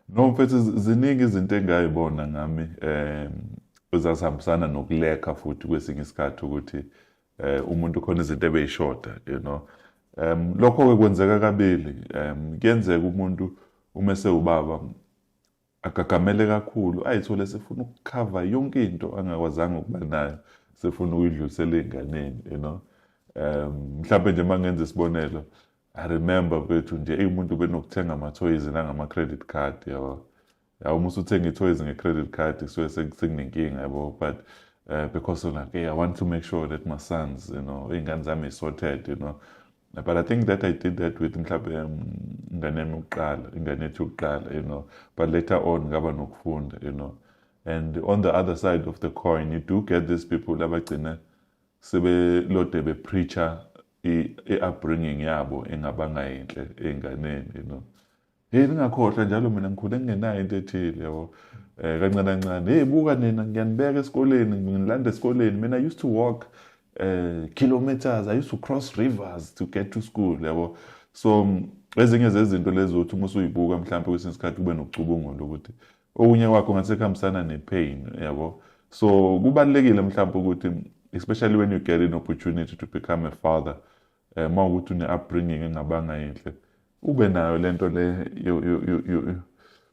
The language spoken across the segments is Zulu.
No mfethu ziningi izinto engayibona ngami eh ezasihambisana nokuleka futhi kwesinye isikhathi ukuthi eh umuntu khona izinto ebeyishoda you know um lokho ke kwenzeka kabili um kuyenzeka umuntu uma sewubaba agagamele kakhulu ayithole sefuna ukukhava yonke into angakwazanga ukuba nayo sefuna ukuyidlulisela ezinganeni you know um mhlawumbe nje mangenza isibonelo I remember bethu nje umuntu benokuthenga amathoyizi nangama-credit card yabo yabo uma usuthenga ithoyizi nge-credit card kusuke sekunenkinga yabo but uh, because like hey, i want to make sure that my sons you know iy'ngane zami sorted you know but i think that i did that with mhlawumbe ingane yami yokuqala ingane yethu yokuqala you know but later on ngaba nokufunda you know and on the other side of the coin you do get these people abagcina sebelode be preacher i-upbringing yabo engabanga yinhle ey'nganeni you know heyi ningakhohlwa njalo mina ngikhule ngingenayo into ethile yabo um kancane kancane heyi buka nina ngiyanibeka esikoleni ngilanda esikoleni mina i used to walk um kilometers i used to cross rivers to get to school yabo so ezinye zezinto lezi zokuthi uma usuyibuka mhlawumpe kwesinye isikhathi kube nokucubungula ukuthi okunye kwakho ngathi sekuhambisana nepain yabo so kubalekile mhlawumbe ukuthi especially when you get an opportunity to become a father eh uma ukuthi une upbringing engabanga yinhle ube nayo lento le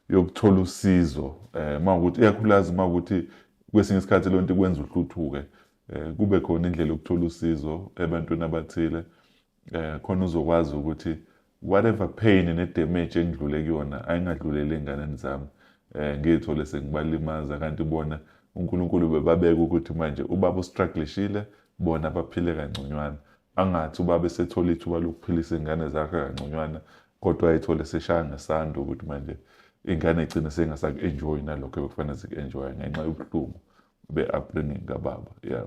yokuthola usizo eh uma ukuthi iyakhulaza uma ukuthi kwesinye isikhathi lonto ikwenza uhluthuke eh kube khona indlela yokuthola usizo ebantwini abathile eh khona uzokwazi ukuthi whatever pain ne damage engidlule kuyona ayingadlulele enganeni zami eh ngithole sengibalimaza kanti bona uNkulunkulu bebabeka ukuthi manje ubaba ustrugglishile bona baphile kangconywana angathi ubaba esethola ithuba lokuphilisa ingane zakhe kangconywana kodwa ayithole seshaya ngesando ukuthi manje ingane igcine sengasaku-enjoyi nalokho ebekufanele ziku-enjoya ngenxa yobuhlungu be-upbringing kababa yeah